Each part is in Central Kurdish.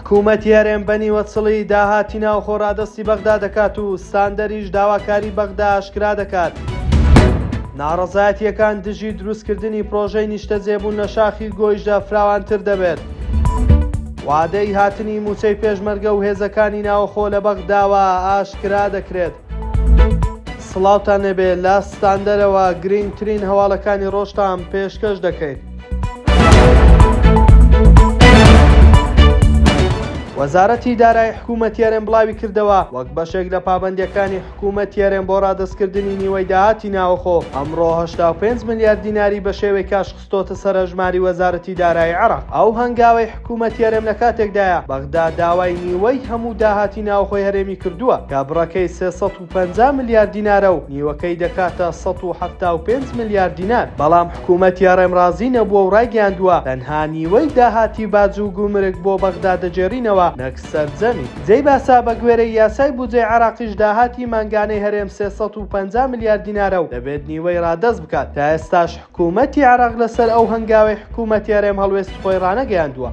حکوومەت یارێن بە نیوەچڵی داهاتی ناوخۆ ڕادەستی بەغدا دەکات و ساندەریش داواکاری بەغدا ئاشکرا دەکات. ناڕەزایەتیەکان دژی دروستکردنی پرۆژەی نیشتەجێبوون لە شاخی گۆیشدا فراوانتر دەبێت. وادەی هاتنی مووچەی پێشمەرگە و هێزەکانی ناوخۆ لە بەغداوە ئاشکرا دەکرێت. سڵاوتان لێبێ لە ستاندەرەوە گرینگترین هەواڵەکانی ڕۆژتان پێشکەش دەکەین. وەزارەتی دارای حکوومەت یارێن بڵاوی کردەوە وەک بەشێک لە پابندەکانی حکوومەت یارێن بۆ ڕادستکردنی نیوەی داهاتی ناوەخۆ ئەمڕۆ 85 ملیار دیناری بە شێوەی کاش خستۆتە سەر هەژماری وەزارەتی دارایی عێراق. ئەو هەنگاوەی حکوومەتی هەرێم لە کاتێکدایە، بەغدا داوای نیوەی هەموو داهاتی ناوخۆی هەرێمی کردووە، کە بڕەکەی سێ سەد و پەنجا ملیار دینارە و نیوەکەی دەکاتە سەد و حەفتا و پێنج ملیار دینار، بەڵام حکوومەتی هەڕێم ڕازی نەبووە و ڕایگەیاندووە، تەنها نیوەی داهاتی باج و گومرگ بۆ بەغدا دەگێڕینەوە نەک سەرجەمی. جێی باسە، بە گوێرەی یاسای بودجەی عێراقیش داهاتی مانگانەی هەرێم سێ سەد و پەنجا ملیار دینارە و دەبێت نیوەی ڕادەست بکات، تا ئێستاش، حکوومەتی عێراق لەسەر ئەو هەنگاوەی حکوومەتی هەرێم هەڵوێستی خۆی ڕانەگەیاندووە.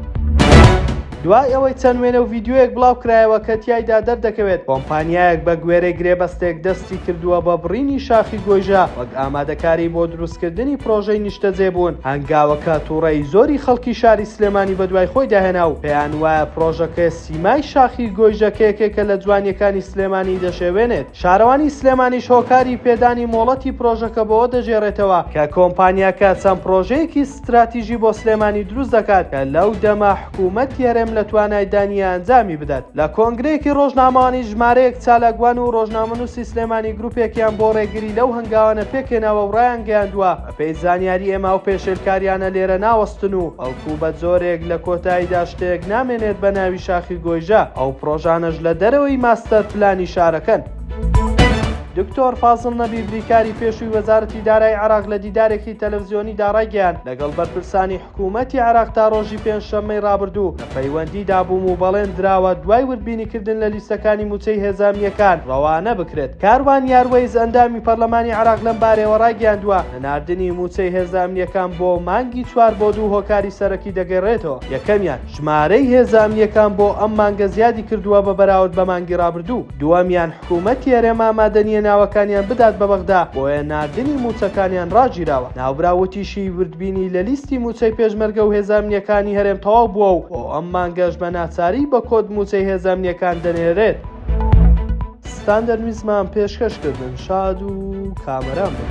دوای ئەوەی چەند وێنە و ڤیدیۆیەک بڵاو کرایەوە کە تیایدا دەردەکەوێت کۆمپانیایەک بە گوێرەی گرێبەستێک دەستی کردووە بە بڕینی شاخی گۆیژە وەک ئامادەکاری بۆ دروستکردنی پڕۆژەی نیشتەجێبوون، هەنگاوەکە تووڕەیی زۆری خەڵکی شاری سلێمانی بەدوای خۆیدا هێنا و پێیان وایە پڕۆژەکە سیمای شاخی گۆیژە کە یەکێکە لە جوانییەکانی سلێمانی دەشێوێنێت. شارەوانی سلێمانیش هۆکاری پێدانی مۆڵەتی پرۆژەکە بەوە دەگێڕێتەوە، کە کۆمپانیاکە چەند پرۆژەیەکی ستراتیژی بۆ سلێمانی دروست دەکات، کە لەو دەمە حکوومەتی هەرێم لە توانایدا نییە ئەنجامی بدات. لە کۆنگرەیەکی رۆژنامەوانی ژمارەیەک چالاکوان و رۆژنامەنووسی سلێمانی گروپێکیان بۆ رێگری لەو هەنگاوانە پێکهێناوە و رایانگەیاندووە، بەپێی زانیاری ئێمە ئەو پێشێلکاریانە لێرە ناوەستن و بەڵکو بە جۆرێک لە کۆتاییدا شتێک نامێنێت بە ناوی شاخی گۆیژە، ئەو پڕۆژانەش لە دەرەوەی ماستەر پلانی شارەکەن. دکتۆر فازڵ نەبی بریکاری پێشووی وەزارەتی دارایی عێراق لە دیدارێکی تەلەفزیۆنیدا ڕایگەیاند، لەگەڵ بەرپرسانی حکوومەتی عێراق تا ڕۆژی پێنجشەممەی ڕابردوو لە پەیوەندیدا بووم و بەڵێن دراوە دوای وردبینیکردن لە لیستەکانی مووچەی هێزامنییەکان ڕەوانە بکرێت. کاروان یاروەیس ئەندامی پەرلەمانی عێراق لەم بارەیەوە ڕایگەیاندووە، نەناردنی مووچەی هێزە ئەمنییەکان بۆ مانگی چوار بۆ دوو هۆکاری سەرەکی دەگەرێتەوە، یەکەمیان ژمارەی هێزە ئەمنییەکان بۆ ئەم مانگە زیادی کردووە بە بەراورد بە مانگی ڕابردوو، دووەمیان حکومەتی هەرێم ئامادەنیە ناوەکانیان بدات بە بەغدا بۆیە ناردنی مووچەکانیان ڕاگیراوە، ناوبراو وتیشی، وردبینی لە لیستی مووچەی پێشمەرگە و هێزە ئەمنیەکانی هەرێم تەواو بووە و بۆ ئەم مانگەش بە ناچاری بە کۆد مووچەی هێزە ئەمنیەکان دەنێرێت. ستاندەر میزمان پێشکەش کردن شاد و کامەران بن.